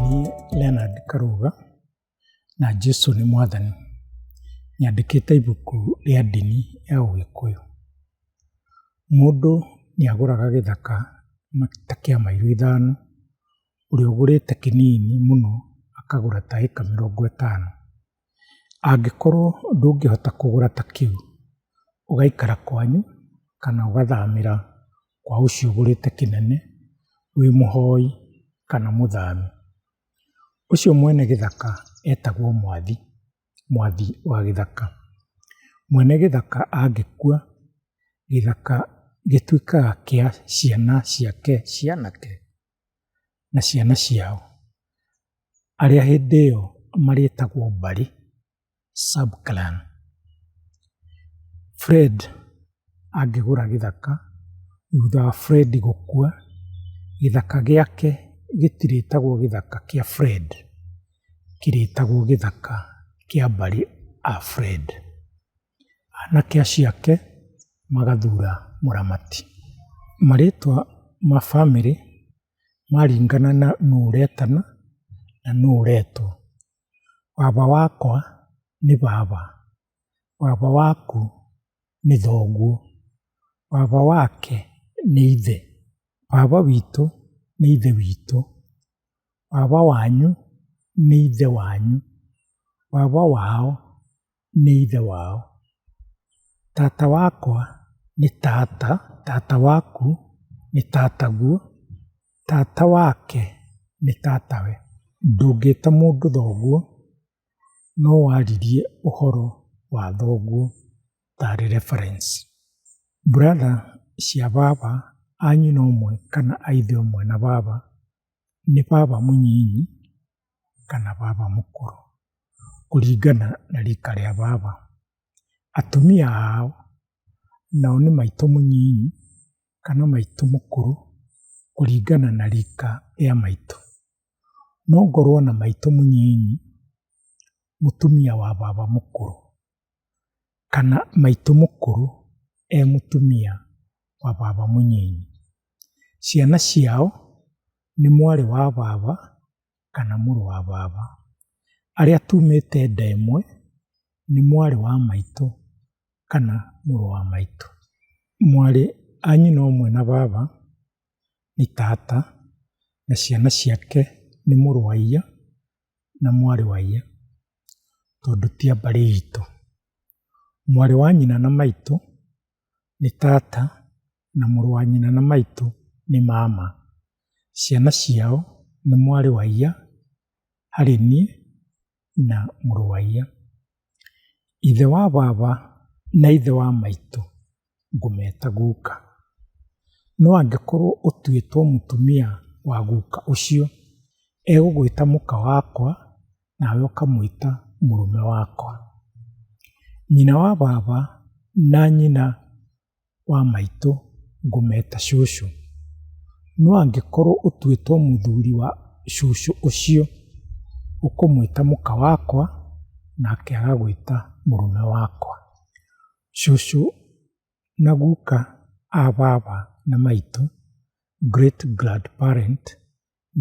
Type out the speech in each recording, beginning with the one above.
Niĩ Leonard Karuga na Jesu nĩ mwathani nyandĩkĩte ibuku rĩa ndini ya ũgĩkũyũ. Mũndũ nĩ agũraga gĩthaka ta kĩa mairo ithano, ũrĩa ũgũrĩte kĩnini mũno akagũra ta ĩka mĩrongo ĩtano. Angĩkorwo ndũngĩhota kũgũra ta kĩu, ũgaikara kwanyu kana ũgathamĩra kwa ũcio ũgũrĩte kĩnene wĩ mũhoi kana mũthami. Ũcio mwene gĩthaka etagwo mwathi, mwathi wa gĩthaka. Mwene gĩthaka angĩkua, gĩthaka gĩtuĩkaga kĩa ciana ciake cia anake. na ciana ciao, arĩa hĩndĩ ĩyo marĩtagwo Mbari sub clan. Fred angĩgũra gĩthaka, thutha wa Fred gũkua, gĩthaka gĩake gĩtirĩtagwo gĩthaka kĩa Fred, kĩrĩtagwo gĩthaka kĩa Mbari a Fred. anake acio ake magathura mũramati. Marĩtwa ma bamĩrĩ maringana na nũ ũretana na nũ ũretwo. Baba wakwa nĩ baba, baba waku nĩ thoguo, baba wake nĩ ithe, baba witũ nĩ ithe witũ, baba wanyu nĩ ithe wanyu, baba wao nĩ ithe wao. Tata wakwa nĩ tata, tata waku nĩ tataguo, tata wake nĩ tatawe. Ndũngĩta mũndũ thoguo, no waririe ũhoro wa thoguo ta reference. Brother cia baba a nyina ũmwe kana a ithe ũmwe na baba, nĩ baba mũnyinyi kana baba mũkũrũ, kũringana na rika rĩa baba. Atumia ao nao nĩ maitũ mũnyinyi kana maitũ mũkũrũ kũringana na rika rĩa maitũ. No ngorwo na maitũ mũnyinyi mũtumia wa baba mũkũrũ. kana maitũ mũkũrũ e mũtumia wa baba mũnini. Ciana ciao nĩ mwarĩ wa baba kana mũrũ wa baba. Arĩa tumĩte nda ĩmwe nĩ mwarĩ wa maitũ kana mũrũ wa maitũ. Mwarĩ a nyina ũmwe na baba nĩ tata na ciana ciake nĩ mũrũ wa iya na mwarĩ wa ithe tondũ ti a mbarĩ itũ. Mwarĩ wa nyina na maitũ nĩ tata na mũrũ wa nyina na maitũ nĩ mama. Ciana ciao nĩ mwarĩ wa iya harĩ niĩ na mũrũ wa iya. Ithe wa baba na ithe wa maitũ. ngũmeta guka. No angĩkorwo ũtuĩtwo mũtumia wa guka ũcio, egũgwĩta mũka wakwa, nawe ũkamwĩta mũrũme wakwa. Nyina wa baba na nyina wa maitũ ngũmeta cũcũ. No angĩkorwo ũtuĩtwo mũthuri wa cũcũ ũcio, ũkũmwĩta mũka wakwa, nake agagwĩta mũrũme wakwa. Cũcũ na guka a baba na maitũ, great grandparent,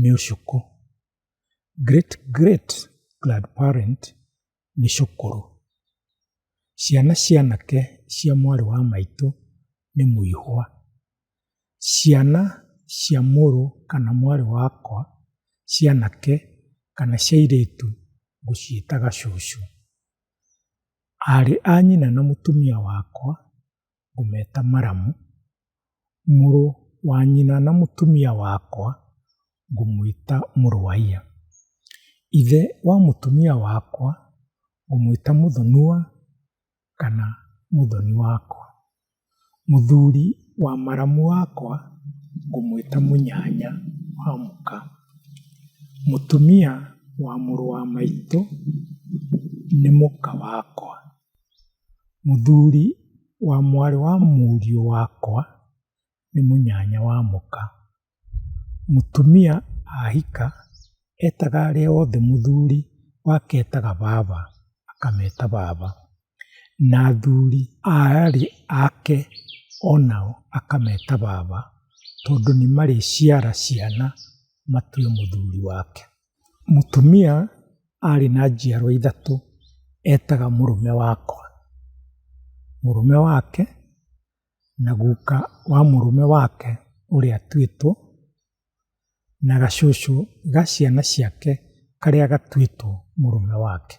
nĩ ũcũkũ. Great great grandparent nĩ cũkũrũ. Ciana cia anake cia mwarĩ wa maitũ nĩ mũihwa. Ciana cia mũrũ kana mwarĩ wakwa cia anake kana cia airĩtu ngũciĩtaga cũcũ. Aarĩ a nyina na mũtumia wakwa ngũmeta maramu, mũrũ wa nyina na mũtumia wakwa ngũmwĩta mũrũwaiya. Ithe wa mũtumia wakwa ngũmwĩta mũthonua kana mũthoni wakwa. Mũthuri wa maramu wakwa ngũmwĩta mũnyanya wa mũka. Mũtumia wa mũrũ wa maitũ nĩ mũka wakwa. Mũthuri wa mwarĩ wa mũriũ wakwa nĩ mũnyanya wa mũka. Mũtumia ahika etaga arĩa othe mũthuri wake etaga baba akameta baba, na athuri a arĩ ake o nao akameta baba tondũ nĩ marĩciara ciana matue mũthuri wake. Mũtumia arĩ na njiarwa ithatũ etaga mũrũme wakwa, mũrũme wake na guka wa mũrũme wake ũrĩa atuĩtwo, na gacucu ga ciana ciake karĩa gatuĩtwo mũrũme wake.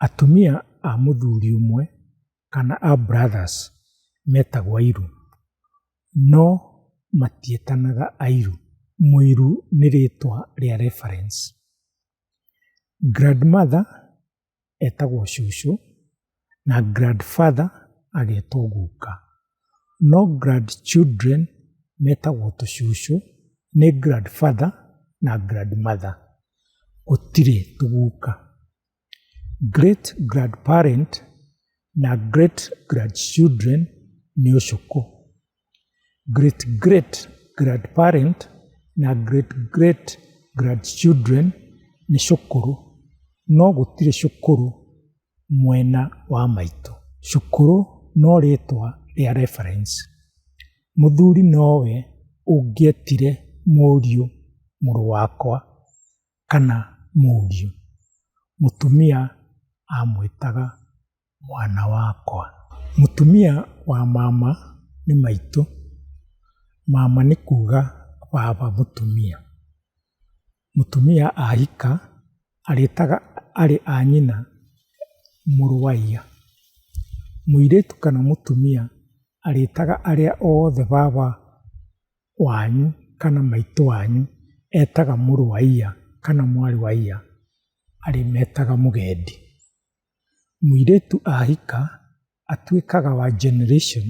Atumia a mũthuri ũmwe kana a brothers metagwo airũ, no matiĩtanaga airũ. Mũirũ nĩ rĩtwa rĩa reference. Grandmother etagwo cũcũ na grandfather agetwo guka. No grandchildren metagwo tũcũcũ nĩ grandfather na grandmother, gũtirĩ tũguka. Great grandparent na great grandchildren nĩ ũcũkũ. great great grandparent na great great grandchildren nĩ cũkũrũ no gũtirĩ cũkũrũ mwena wa maitũ. Cũkũrũ no rĩtwa rĩa reference. Mũthuri nowe ũngĩetire mũriũ mũrũ wakwa kana mũriũ. Mũtumia amwĩtaga mwana wakwa. Mũtumia wa mama nĩ maitũ, mama nĩ kuga baba mũtumia. Mũtumia ahika arĩtaga arĩ a nyina mũrũ wa iya. Mũirĩtu kana mũtumia arĩtaga arĩa othe baba wanyu kana maitũ wanyu etaga mũrũ wa iya kana mwarĩ wa iya arĩmetaga mũgendi. Mũirĩtu ahika atuĩkaga wa generation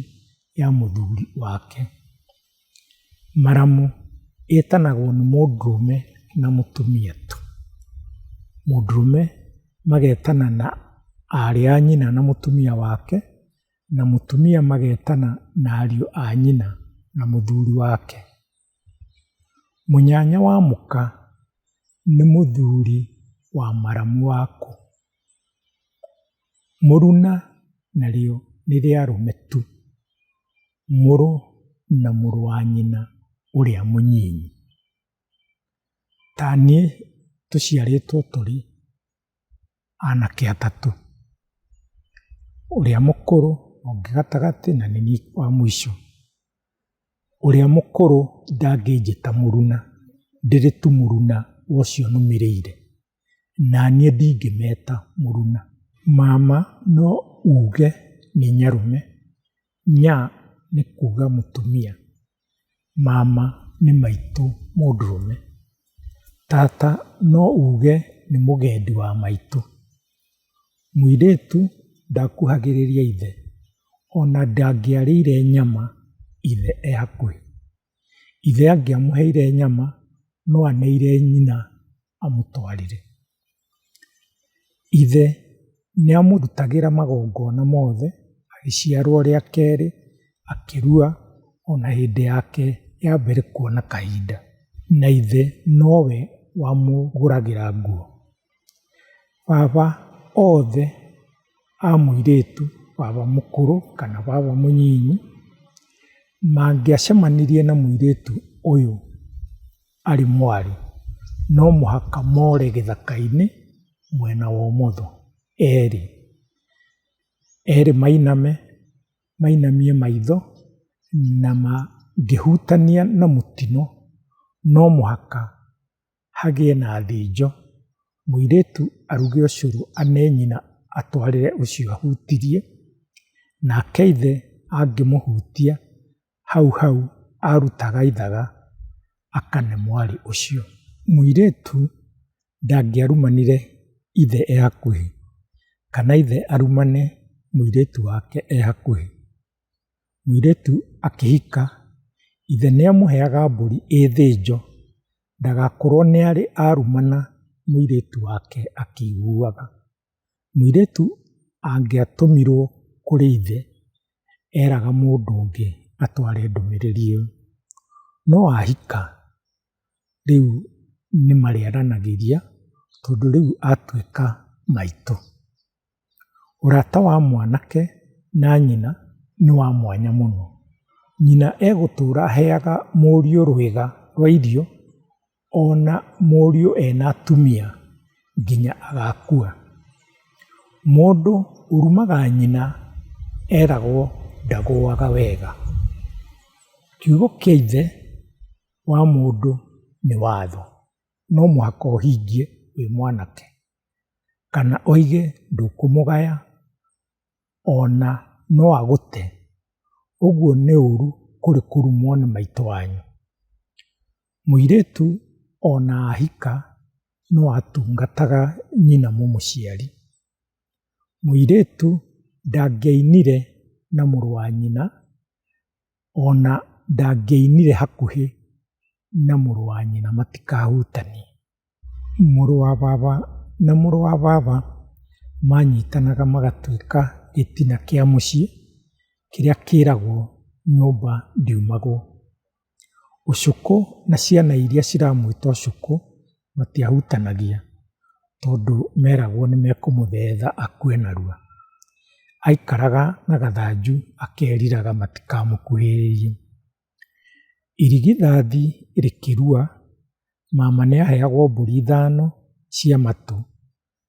ya mũthuri wake. Maramu ĩtanagwo nĩ mũndũrũme na mũtumia tu. Mũndũrũme magetana na aarĩ a nyina na mũtumia wake, na mũtumia magetana na ariũ a nyina na mũthuri wake. Mũnyanya wa mũka nĩ mũthuri wa maramu wa kũ? Mũruna narĩo nĩ rĩa rũme tu, mũrũ na mũrũ wa nyina ũrĩa mũnyinyi. Ta niĩ tũciarĩtwo tũrĩ. anake atatũ, ũrĩa mũkũrũ, ũngĩ gatagatĩ na nĩ niĩ wa mũico. Ũrĩa mũkũrũ ndangĩnjĩta mũruna ndĩrĩ tu mũruna wa ũcio nũmĩrĩire, na niĩ ndingĩmeta mũruna. Mama no uge nĩ nyarũme Nya nĩ kuga mũtumia, mama nĩ maitũ mũndũrũme, tata no uge nĩ mũgendi wa maitũ, mũirĩtu ndakuhagĩrĩria ithe ona ndangĩarĩire nyama ithe e hakuhĩ. Ithe angĩamũheire nyama no anĩire nyina amũtwarire. Ithe nĩamũrutagĩra magongona mothe agĩciarwo rĩa kerĩ, akĩrua ona hĩndĩ yake ya mbere kuona kahinda, na ithe nowe wamũgũragĩra nguo. Baba othe a mũirĩtu, baba mũkũrũ kana baba mũnyinyi, mangĩacemanirie na mũirĩtu ũyũ. arĩ mwarĩ, no mũhaka more gĩthaka-inĩ mwena wa ũmotho, erĩ. Erĩ mainame, mainamie maitho, na mangĩhutania na mũtino, no mũhaka hagĩe na thĩnjo, mũirĩtu aruge ũcũrũ ane nyina atwarĩre ũcio ahutirie, nake ithe angĩmũhutia, hau hau arutaga ithaga akane mwarĩ ũcio. Mũirĩtu ndangĩarumanire ithe e hakuhĩ, kana ithe arumane mũirĩtu wake e hakuhĩ. Mũirĩtu akĩhika, ithe nĩamũheaga mbũri ĩ thĩnjo, ndagakorwo nĩarĩ arumana mũirĩtu wake akĩiguaga. Mũirĩtu angĩatũmirwo kũrĩ ithe, eraga mũndũ ũngĩ atware ndũmĩrĩri ĩyo. No ahika, rĩu nĩmarĩaranagĩria, tondũ rĩu atuĩka maitũ. Ũrata wa mwanake na nyina nĩ wa mwanya mũno. Nyina egũtũra aheaga mũriũ rwĩga rwa irio. Ona mũriũ ena atumia nginya agakua. Mũndũ ũrumaga nyina eragwo ndagũaga wega. Kiugo kĩa ithe wa mũndũ nĩ watho, no mũhaka ũhingie wĩ mwanake, kana ũige ndũkũmũgaya ona no agũte. Ũguo nĩ ũru kũrĩ kũrumwo nĩ maitũ wanyu. Mũirĩtu o na ahika no atungataga nyina mũmũciari. Mũirĩtu ndangĩainire na mũrũ wa nyina, o na ndangĩainire hakuhĩ na mũrũ wa nyina matikahutanie. Mũrũ wa baba na mũrũ wa baba manyitanaga magatuĩka gĩtina kĩa mũciĩ kĩrĩa kĩragwo nyũmba ndiumagwo. Ũcũkũ na ciana iria ciramwĩta ũcũkũ matiahutanagia tondũ meragwo nĩ mekũmũthetha akue narua. Aikaraga na gathanju akeriraga matikamũkuhĩrĩrie. Irigithathi rĩkĩrua, mama nĩaheagwo mbũri ithano cia matũ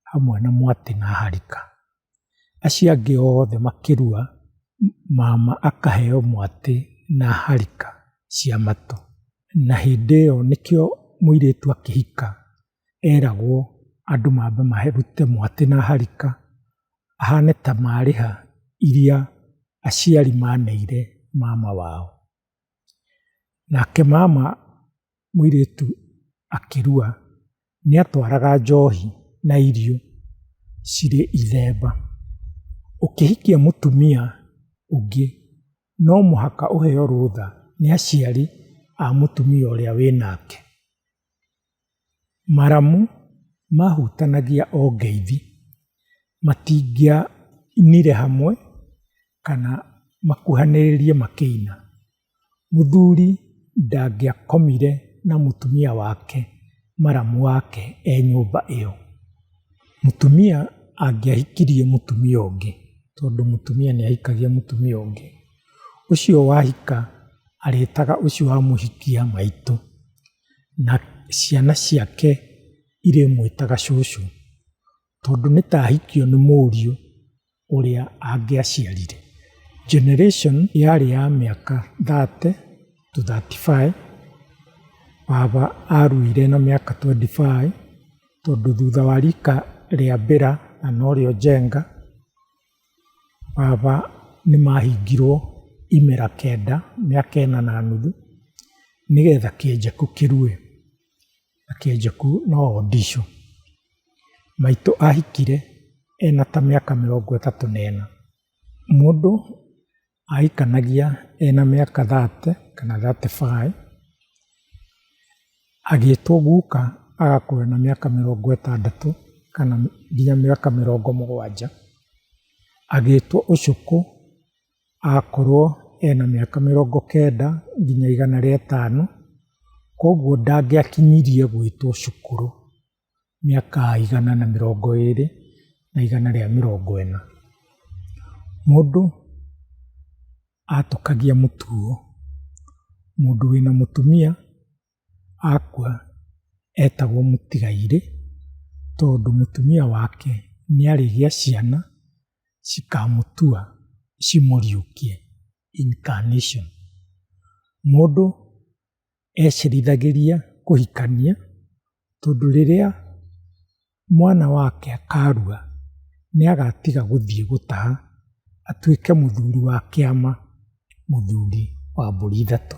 hamwe na mwatĩ na harika. Acio angĩ othe makĩrua, mama akaheo mwatĩ na harika cia matũ. Na hĩndĩ ĩyo nĩkĩo mũirĩtu akĩhika. eragwo andũ mambe marute mwatĩ na harika, ahane ta marĩha iria aciari maneire mama wao. Nake mama mũirĩtu akĩrua, nĩ atwaraga njohi na irio cirĩ ithemba. Ũkĩhikia mũtumia ũngĩ, no mũhaka ũheo rũtha nĩ aciari a mũtumia ũrĩa wĩnake. Maramu mahutanagia o ngeithi, matingĩainire hamwe kana makuhanĩrĩrie makĩina. Mũthuri ndangĩakomire na mũtumia wake maramu wake e nyũmba ĩyo. Mũtumia angĩahikirie mũtumia ũngĩ, tondũ mũtumia nĩahikagia mũtumia ũngĩ, ũcio wahika arĩtaga ũcio wamũhikia maitũ. na ciana ciake irĩmwĩtaga cũcũ, tondũ nĩ ta ahikio nĩ mũriũ ũrĩa angĩaciarire. Generation yarĩ ya mĩaka thate to thirty five, baba aruire na mĩaka twenty five, tondũ thutha wa rika rĩa Bella na norĩo Njenga. Baba nĩ mahingirwo imera kenda, mĩaka ĩna na nuthu, nĩgetha kĩenjeku kĩrue, na kĩenjeku no o ndicũ. Maitũ ahikire ena ta mĩaka mĩrongo ĩtatũ na ĩna. Mũndũ Aahikanagia ena mĩaka thate kana thate baĩ, agĩtwo guka agakorwo ena mĩaka mĩrongo ĩtandatũ kana nginya mĩaka mĩrongo mũgwanja. Agĩtwo ũcũkũ agakorwo ena mĩaka mĩrongo kenda nginya igana rĩa ĩtano, koguo ndangĩakinyirie gwĩtwo cũkũrũ. mĩaka igana na mĩrongo ĩrĩ na igana rĩa mĩrongo ĩna. Mũndũ atũkagia mũtugo, mũndũ wĩna mũtumia akua etagwo mũtigairĩ, tondũ mũtumia wake nĩarĩgĩa ciana cikamũtua cimũriũkie, incarnation. Mũndũ. ecirithagĩria kũhikania, tondũ rĩrĩa mwana wake akarua, nĩagatiga gũthiĩ gũtaha, atuĩke mũthuri wa kĩama, mũthuri wa mbũri ithatũ.